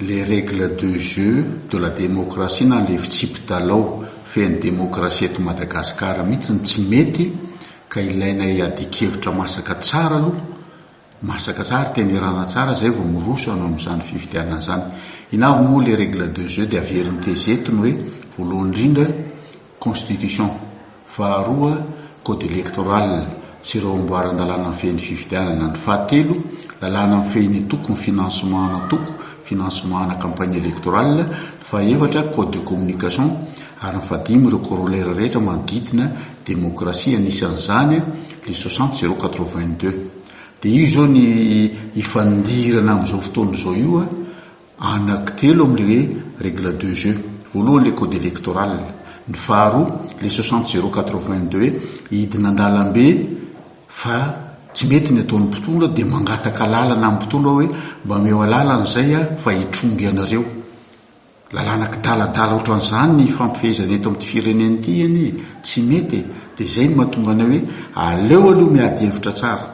Les règles de jeu de la démocratie na le fitsipi-dalao fen'ny demokrasia eto Madagasikara mihitsy no tsy mety ka ilaina iadian-kevitra masaka tsara aloha, masaka tsara, tenerana tsara izay vao miroso hanao an'izany fifidianana izany. Inona avy moa les règles de jeu dia averiny tezety ny hoe voalohany indrindra, Constitution, faharoa, Code electoral sy ireo amboaran-dalàna mifehy ny fifidianana, ny fahatelo, Lalàna mifehy ny toko, ny financement ana toko, financement ana campagne electorale, ny fahaefatra, Code de communication, ary ny fahadimy, ireo corollaires rehetra manodidina demokrasia, anisan'izany le soixante zéro quatre-vingt-deux. Dia io izao ny ifandirana amin'izao fotoana izao io. Anankitelo amin'ilay règle de jeu. Voalohany ilay code électoral. Ny faharoa ilay soixante zéro quatre vingt deux hoe hidina an-dalambe fa tsy mety ny ataon'ny mpitondra dia mangataka alalana amin'ny mpitondra hoe mba ameo alalana izay aho fa hitrongy anareo. Lalàna kidaladala ohatran'izany ny ifampifehezana eto amin'ity firenena ity anie e! Tsy mety e! Dia izay no mahatonga anay hoe aleo aloha miady hevitra tsara.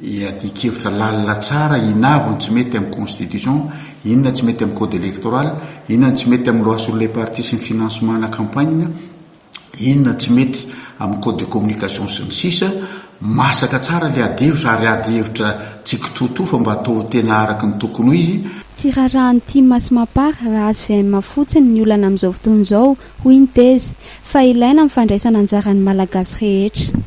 iadian-kevitra lalina tsara, inavo ny tsy mety amin'ny constitution, inona tsy mety amin'ny code electoral, inona ny tsy mety amin'ny loi sur les partis sy ny financement ana campagne, inona tsy mety amin'ny code de communication sy ny sisa, masaka tsara ilay adihevitra ary adihevitra tsy kitoatoa fa mba atao tena araka ny tokony ho izy, Tsy raharahan'ny tim sy Mapar raha hvm fotsiny ny olana amin'izao fotoana izao, hoy ny tezy, fa ilaina ny fandraisana anjara ny Malagasy rehetra.